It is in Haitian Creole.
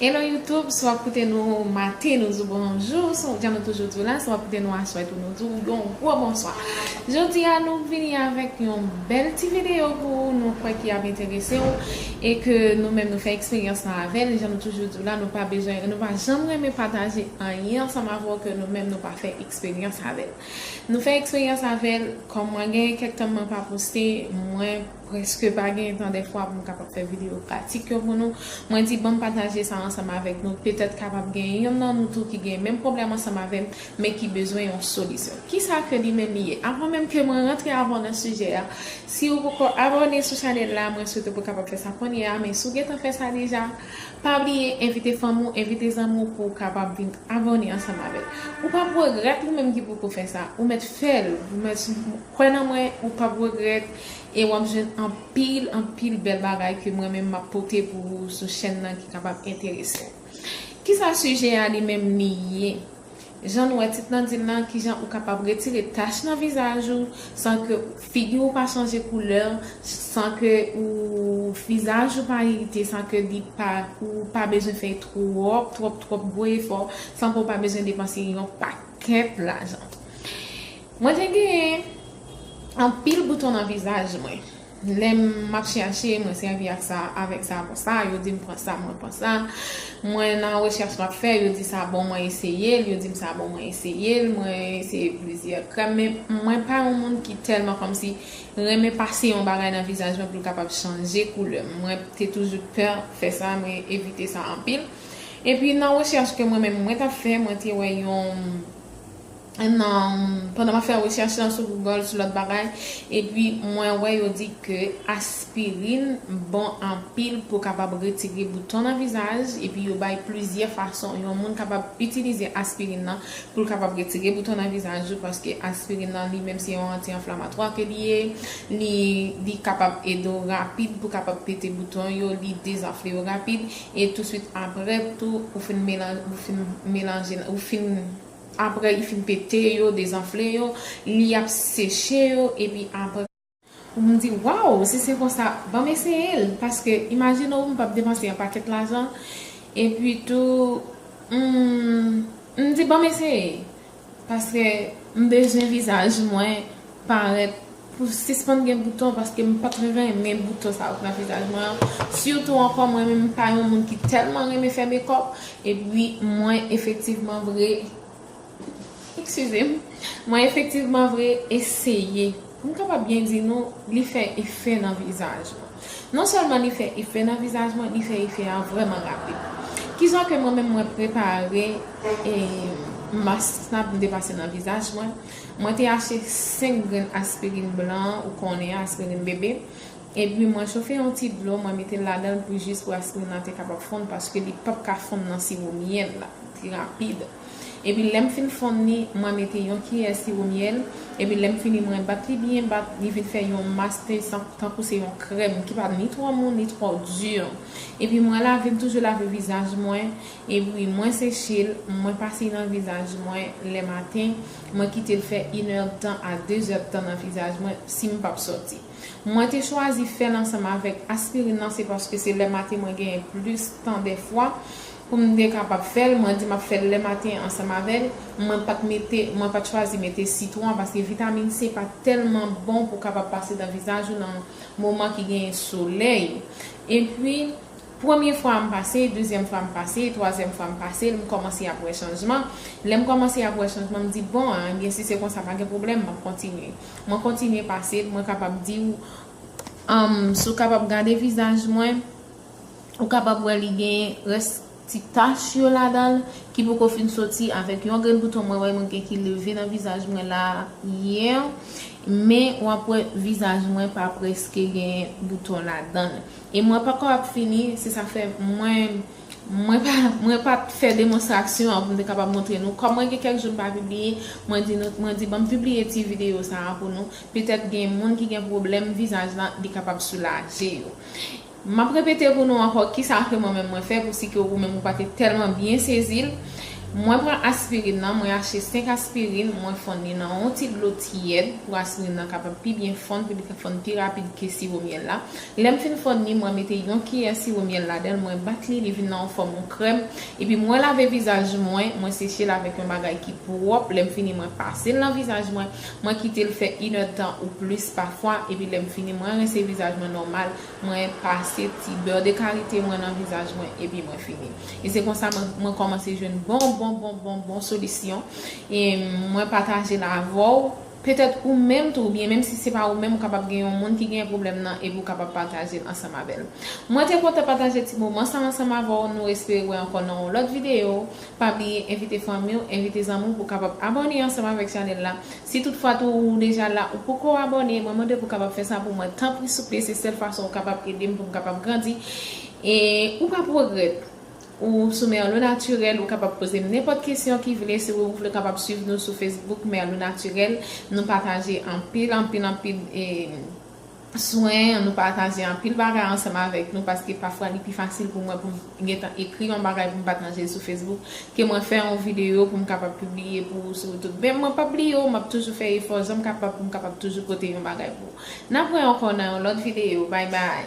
Hello YouTube, si wap koute nou maten nou di w bonjou, jan nou toujou di w la, si wap koute nou aswè tou nou di w yon gwo bonswa. Jodi a nou vini avèk yon bèl ti videyo pou ou, nou kwè ki ap enterese w e ke nou menm nou fè eksperyans lan avè l, jan nou toujou di w la nou pa bezwen, nou pa janm renmen pataje anyen ansanm avè w ke nou menm nou pa fè eksperyans avè l. Nou fè eksperyans avè l, kòm mwen gen kèk tan mwen pa poste, mwen. Preske pa gen tan dèfwa pou m kapab fè videyo pratik yo pou nou. Mwen di banm pataje sa ansanm avèk nou, petèt kapab gen youn nan nou tou ki gen menm pwoblèm ansanm avè m, men ki bezwen yon solisyon. Kisa ke li menm li ye? Avan menm ke mwen rantre avè w nan sijè a, si ou poko abòne sou chanèl la, mwen swete pou kapab fè sa konnye a, men si w gentan fè sa deja, pa bliye envite fanmi w, envite zanmi w pou w kapab vin abòne ansanm avè l. Ou pap regrèt ou menm ki poko fè sa, ou mèt fè l, ou mèt. Kwè nan mwen ou pap regrèt e wap jwenn anpil anpil bèl bagay ke mwen menm map pote pou ou sou chèn nan ki kapab enterese ou. Kisa sijè a li menm li ye? Jan nou wè tit nan dil la kijan ou kapab retire tach nan vizaj ou san ke figi ou pa chanje koulè, san ke ou vizaj ou pa irite, san ke li pa ou pa bezwen fè twòp twòp twòp gwo efò, san ke ou pa bezwen depanse yon pakèt lajan. Mwen te gen anpil bouton nan vizaj mwen lè m ap chèche mwen sèvi ak sa avèk sa avon sa yo di m pran sa mwen pran sa mwen nan rechèch m ap fè yo di sa bon mwen eseye l yo di m sa bon mwen eseye l mwen eseye plizyè krèm men mwen pa yon moun ki tèlman kòmsi renmen pase yon bagay nan vizaj mwen pou l kapab chanje koulè mwen te toujou pè fè sa mwen evite sa anpil epi nan rechèch ke mwen menm mwen t ap fè mwen te wè yon nan pandan map fè recherche lan sou Google sou lòt bagay epi mwen wè yo di ke aspirin bon anpil pou kapab retire bouton nan vizaj epi yo bay plizyè fason yon moun kapab itilize aspirin nan poul kapab retire bouton nan vizaj ou paske aspirin nan li menm se yon anti anflamatwa ke li ye li kapab ede w rapid pou kapab pete bouton yo li dezanfle yo rapid e touswit aprè tou ou fin melanjel ou fin Apre li fin pete yo, dezanfle yo, li ap seche yo epi apre. Ou m di waw si se konsa banm eseye l paske imajine w m pap depanse yon pakèt lajan epi tou humm m di banm eseye paske m bezwen vizaj mwen parèt Pou sispann gen bouton paske m pat renmen bouton sa yo k nan vizaj mwen an sitou ankò mwen menm m pa yon moun ki tèlman renmen fè mekòp epi mwen efektivman vre eksizem mwen efektivman vre eseye m kapab byen di nou li fè efè nan vizaj mwen non sèlman li fè efè nan vizaj mwen li fè efè a vrèman rapid kisa ke mwen menm mwen prepare mask sa m te pase nan vizaj mwen. Mwen te achte 5 grenn aspirin blan an ou konnen an, aspirin bebe, epi mwen chofe yon ti dlo mwen mete l ladan l pou jis pou aspirin nan te kapab fonn paske li pap ka fonn nan siwo myèl la pi rapid. Epi lè m fin fonn li, mwen mete yon kiyè siwo myèl, epi lè m fini mwen bat li byen bat, li vin fè yon mas pezan tankou se yon krèm ki pa ni twò mou ni twò di. Epi mwen lave m toujou lave vizaj mwen, Epwi mwen se chil mwen pase nan vizaj mwen lè maten mwen kitel fè yn èdtan a dezèdtan nan vizaj mwen sim pap sòti mwen te chwazi fèl ansanm avèk aspirin nan se paske se lè maten mwen genyen plis tan dèfwa poum te kapab fèl mwen di map fèl lè maten ansanm avèl mwen pat mete mwen pat chwazi mete sitwon paske vitamin se pa tèlman bon pou kapab pase nan vizaj ou nan moman ki genyen solèy epwi Premye fwa m pase, dezyèm fwa m pase, twazyèm fwa m pase l, m kòmanse ap wè chanjman. Lè m kòmanse ap wè chanjman, m di bon, enben si se konsa pa gen pwoblèm, m ap kontinye. Mwen kontinye pase l, mwen kapab di w. Si w kapab gade vizaj mwen, ou kapab wè li gen rès ti tach yo ladan l ki poko fin soti avèk yon grenn bouton mwen wè mwen gen ki leve nan vizaj mwen la yè. Men w ap wè vizaj mwen pa prèske gen bouton ladan l. E mwen pako ap fini, se sa k fè mwen mwen pa fè demonstraksyon an pou m te kapab montre nou. Kòm mwen gen kèk jou m pa pibliye, mwen di nou mwen di banm pibliye ti videyo sa a pou nou, petèt gen moun ki gen pwoblèm vizaj lan li kapab soulaje yo. M ap repete pou nou ankò ki sa ke mwen menm mwen fè pou si ke ou menm ou pa te tèlman byen sezi l. Mwen pran aspirin nan, mwen achte 5 aspirin, mwen fonn li nan yon ti dlo tiyèd pou aspirin nan kapab pi byen fonn, pou li ka fonn pi rapid ke siwo myèl la. Lè m fin fonn li, mwen mete yon kiyè siwo myèl ladan l, mwen bat li, li vin nan yon fòm yon krèm, epi mwen lave vizaj mwen, mwen seche l avèk yon bagay ki pwòp, lè m fini mwen pase l nan vizaj mwen, mwen kite l fè inèdtan ou plis pafwa, epi lè m fini mwen rense vizaj mwen nòmal, mwen pase ti beur de karite mwen nan vizaj mwen, epi mwen fini. E se konsa mwen kòmanse jwenn bon bon bon bon bon solisyon, e mwen pataje l avè w. Petèt ou menm tou oubyen menm si se pa ou menm ou kapab gen yon moun ki genyen pwoblèm nan epi ou kapab pataje l ansanm avè l. Mwen te kontan pataje ti moman sa ansanm avè w, nou espere wè ankò nan yon lòt videyo, pa bliye envite fanmi w, envite zanmi w pou kapab abòne ansanm avèk chanèl la, si tout fwa tou ou deja la ou poko abòne mwen mande pou kapab fè sa pou mwen tanpri souple se sèl fason ou kapab ede m pou m kapab grandi e ou pap regrèt Ou sou Merlou Naturel, ou kapab poze m nenpòt kesyon ki vle, si ou vle kapab swiv nou sou Facebook Merlou Naturel, nou pataje anpil anpil anpil swen, nou pataje anpil bagay ansanm avèk nou paske pafwa li pi fasil pou mwen pou m gentan ekri yon bagay pou m pataje l sou Facebook ke mwen fè yon videyo pou m kapab pibliye pou ou sou YouTube men mwen pap bliye ou m ap toujou fè efò janm kapab pou m kapab toujou pote yon bagay pou ou n ap wè ankò nan yon lòt videyo bay bay.